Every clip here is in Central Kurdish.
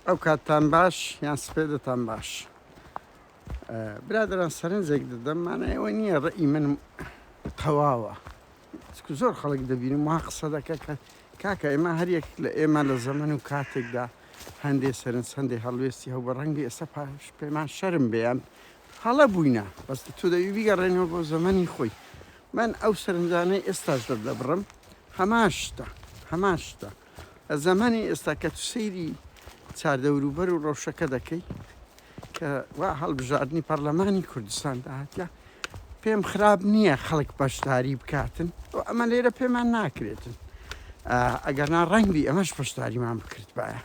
ئەو کاتتان باش یان سپێدەتان باش برادران سەرنجێک دەدەم مانای ئەوە نییە ڕئی من تەواوە زۆر خەڵک دەبینم وا قسە دەکە کە کاکە ئێمە هەریەک لە ئێمە لە زەمن و کاتێکدا هەندێ سەرنج هەندێک هەڵوێستی هەو بە ڕەنگی ئێستا پاش پێمان شەرم بێیان هەڵە بووینە بەس تۆ دەوی بیگەڕێنەوە بۆ زەمەنی خۆی من ئەو سەرنجانەی ئێستاش دەبڕم هەمان شتە هەمان شتە زەمانی ئێستا کە تو سەیری چاردەوروبەر و ڕەوشەکە دەکەی کە وا هەڵبژاردنی پەرلەمانی کوردستان داهاتە پێم خراپ نییە خەڵک بەشداری بکاتن و ئەمە لێرە پێمان ناکرێتن ئەگەر نا ڕەنگبی ئەمەش پشداریمان بکرد باە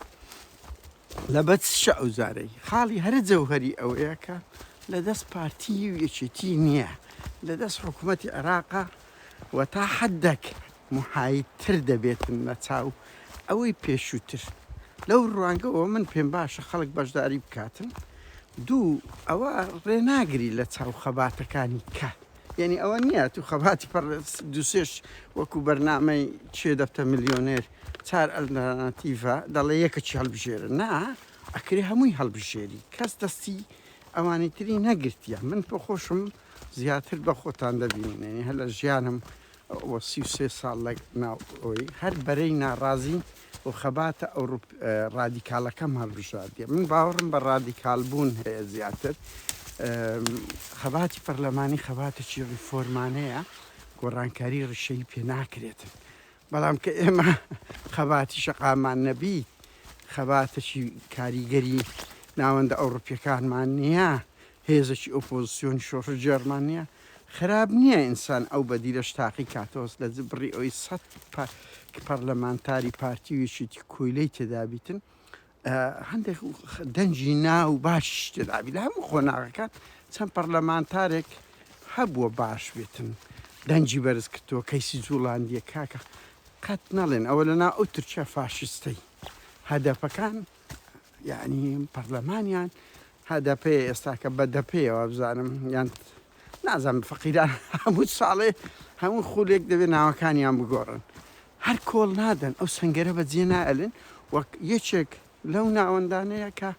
لە بەچ شە ئەو زارەی خاڵی هەرە جەوهری ئەوەیە کە لە دەست پارتی و یەکێتی نییە لە دەست حکوومەتی عێراقا و تا حدەک محای تر دەبێتن لە چاو ئەوەی پێشوو تر لەو ڕوانگەوە من پێم باشە خەڵک بەشداری بکاتن دوو ئەوە ڕێناگری لە چاو خەباتەکانی کە یعنی ئەوە نیە تو خەباتی پڕ دوسێش وەکو بەرنامەی چێ دەبتە ملیۆنێر چار ئەلناتیڤە دەڵێ یەکە چی هەڵبژێرە نا ئەکرێ هەمووی هەڵبژێری کەس دەستی ئەوانی تری نەگرتیە من پۆ خۆشم زیاتر بە خۆتان دەبینن یەنی هەر لە ژیانم وە سی و سێ ساڵ لە ناو ئەوەی هەر بەرەی ناڕازی و خەباتە ئەوروپ ڕادیکالەکەم هەڵبژاردیە من باوەڕم بە ڕادیکال بوون هەیە زیاتر خەباتی پەرلەمانی خەباتێکی ڕیفۆرمانەیە گۆڕانکاری ڕیشەی پێ ناکرێتن بەڵام کە ئێمە خەباتی شەقاممان نەبی خەباتەکی کاریگەری ناوەندە ئەوڕپیەکانمان نییە هێزەکی ئۆپۆزیسیۆن شۆڕ جێرمان نییە خراپ نییە ئینسان ئەو بەدیلەش تاقی کاتۆس لە بڕی ئەوی سە پەرلەمانتاری پارتی ویشیتی کۆیلەی تێدابیتن هەندێک دەنگی ناو باشیش تێدابی لە هەموو قۆناغەکان چەند پەرلەمانتارێک هەبووە باش بێتن دەنگی بەرز کردووە کەیسی جوڵاندیە کاکە قەت نەڵێن ئەوە لەنا ئەو تورکیا فاشستەی هەدەپەکان یعنی پەرلەمانیان هەدەپێ ئێستاکە بە دەپێەوە بزانم یان نازانم فەقیران هەموو ساڵێ هەموو خولێک دەبێت ناوەکانیان بگۆڕن هەر کۆڵ نادەن ئەو سنگەرە بە جێ نائەلن وەک یەکێک لەو ناوەندانەیە کە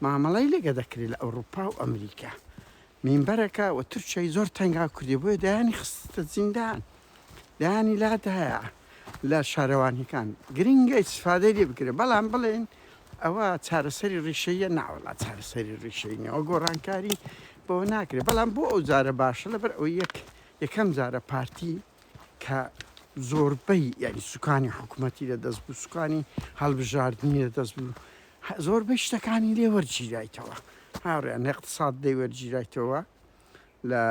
مامەڵەی لەگە دەکرێت لە ئەوروپا و ئەمریکا مینبەرەکە و تورکیای زۆر تەنگا کردی بۆیە دەیانی خستە زیندان دەیانی لادایە. لە شارەوانیەکان گرنگە ئیستفادەی لێ بکرێت بەڵام بڵێن ئەوە چارەسەری ڕیشەیە ناوەڵا چارەسەری ڕیشەی نەوە گۆڕانکاری بۆ ناکرێت بەڵام بۆ ئەو جارە باشە لەبەر ئەو یەک یەکەم جارە پارتی کە زۆربەی یاری سوکانی حکوومەتی لە دەست بوو سوکانی هەڵبژاردننی لە دەست بوو زۆربەی شتەکانی لێ وەرگیرایتەوە هاوڕێن اقتصاد دەی وەرگیرایتەوە لە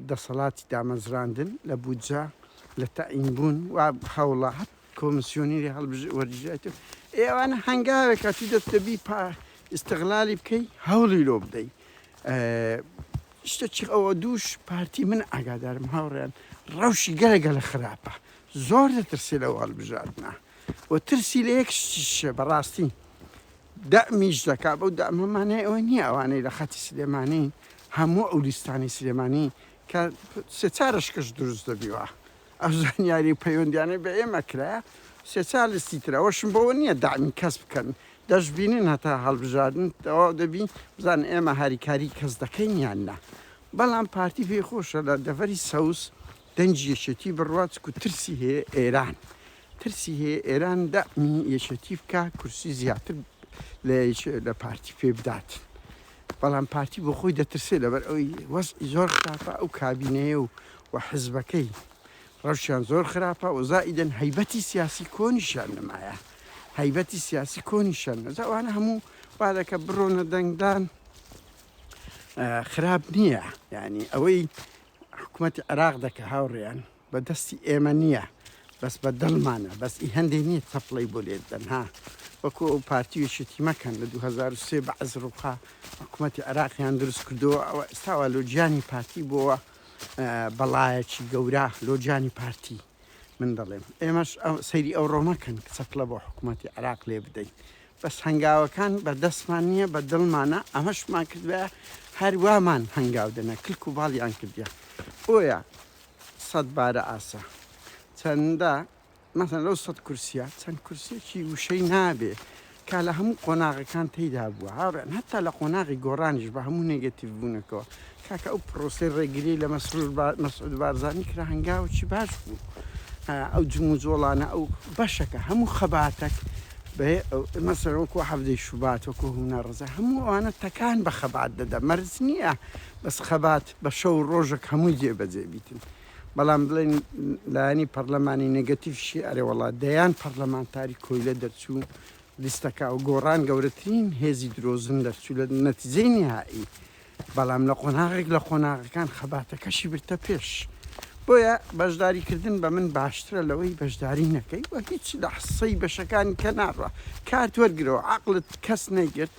دەسەڵاتی دامەزراندن، لە بودجە، لە تەعین بوون و هەوڵە هەر کۆمسیۆنیری هەڵبژێ وەربژێرێت و ئێ ئەوانە هەنگاوێکە تو دەت دەبی پا ئیستغلالی بکەی هەوڵی لۆ بدەی شتەچی ئەوە دووش پارتی من ئاگادارم هاوڕێیان ڕەوشی گەلە گەلە خراپە زۆر دەترسێ لەو هەڵبژاردنە و ترسی لە یەک شتیشە بەڕاستی دەعمیش دەکات، بەو دەعمە مانای ئەوە نییە ئەوانەی لە خەتی سلێمانین هەموو ئەو لیستانەی سلێمانی کە سێ چار ئەشکەش دروست دەبیوە ئەو زانیاری و پەیوەندیانەی بە ئێمە کرایە سێ چار لیستی تر ئەوەشم بەوە نییە دەعمی کەس بکەن دەشبینن هەتا هەڵبژاردن تەواو دەبی بزان ئێمە هاریکاری کەس دەکەین یان نا بەڵام پارتی پێی خۆشە لە دەڤەری سەوز دەنگی یەکێتی بڕوا چکو ترسی هەیە ئێران ترسی هەیە ئێران دەمی یەکێتی بکە کورسی زیاتر لە لە پارتی پێ بدات بەڵام پارتی بۆ خۆی دەترسێ لەبەر ئەوی وەز زۆر خراپە ئەو کابینەیە و و حزبەکەی ڕەوشیان زۆر خراپە و زائیدن هەیبەتی سیاسی کۆنیشیان نمایە هەیبەتی سیاسی کۆنیشان نەزاوانە هەموو وادەکە بڕۆنە دەنگدان خراپ نییە ینی ئەوەی حکومەتی عێراق دەکە هاوڕێیان بە دەستی ئێمە نییە بەس بە دڵمانە بەس ئی هەندێک نییە تەپڵی بۆ لێت بەن ها وەکو ئەو پارتیوێکێتی مەکەن لە 2023 بە عز ڕووقا حکوومەتتی عێراقیان دروست کردووە ئەوە ئێستاوا لۆجیانی پارتی بۆوە بەڵایەکی گەورە لۆجیانی پارتی من دەڵێم ئێمەش سەیری ئەو ڕۆمەکەن کە چەپڵە بۆ حکوومەتتی عراق لێ بدەین بەس هەنگاوەکان بە دەستمان نییە بە دڵمانە ئەمەشمان کردە هەروامان هەنگاو دەنە کلک و باڵیان کردە بۆیە سەد بارە ئاسا چەندە مەسن لەو سەد کورسیە چەند کورسێکی وشەی نابێ کە لە هەموو قۆناغەکان تێیدا بووە هاوڕێن هەتا لە قۆناغی گۆڕانیش بە هەموو نێگەتیڤ بوونەکەەوە کاکە ئەو پرۆسی ڕێگری لە مەسرور مەسعود بارزانانی کرا هەنگاوەکی باش بوو ئەو جمو جۆڵانە ئەو بەشەکە هەموو خەباتەک مەسەر وەکو حەفدەی شوبات وەکو هونا ڕزە هەموو ئەوانە تەکان بە خەبات دەدا مەرز نییە بەس خەبات بە شەو ڕۆژێک هەمووی جێبەجێ بیتن بەڵام بڵێن لایەنی پەڕلەمانی نێگەتیڤیشی ئەرێ وەڵا دەیان پەڕلەمانتاری کۆیلە دەرچوو لیستەکە و گۆڕان گەورەترین هێزی درۆزن دەرچوو لە نەتیجەی نیهائی بەڵام لە قۆناغێک لە قۆناغەکان خەباتەکەشی برتە پێش بۆیە بەشداری کردن بە من باشترە لەوەی بەشداری نەکەی وە هیچ لە حسەی بەشەکانی کە ناڕە کارت وەرگرەوە عقلت کەس نەگرت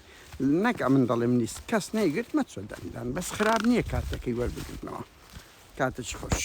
نەک ئەمن دەڵێم نیست کەس نەیگرت مەچۆ دەنگدان بەس خراپ نیە کارتەکەی وەربگرنەوە کاتت خۆش.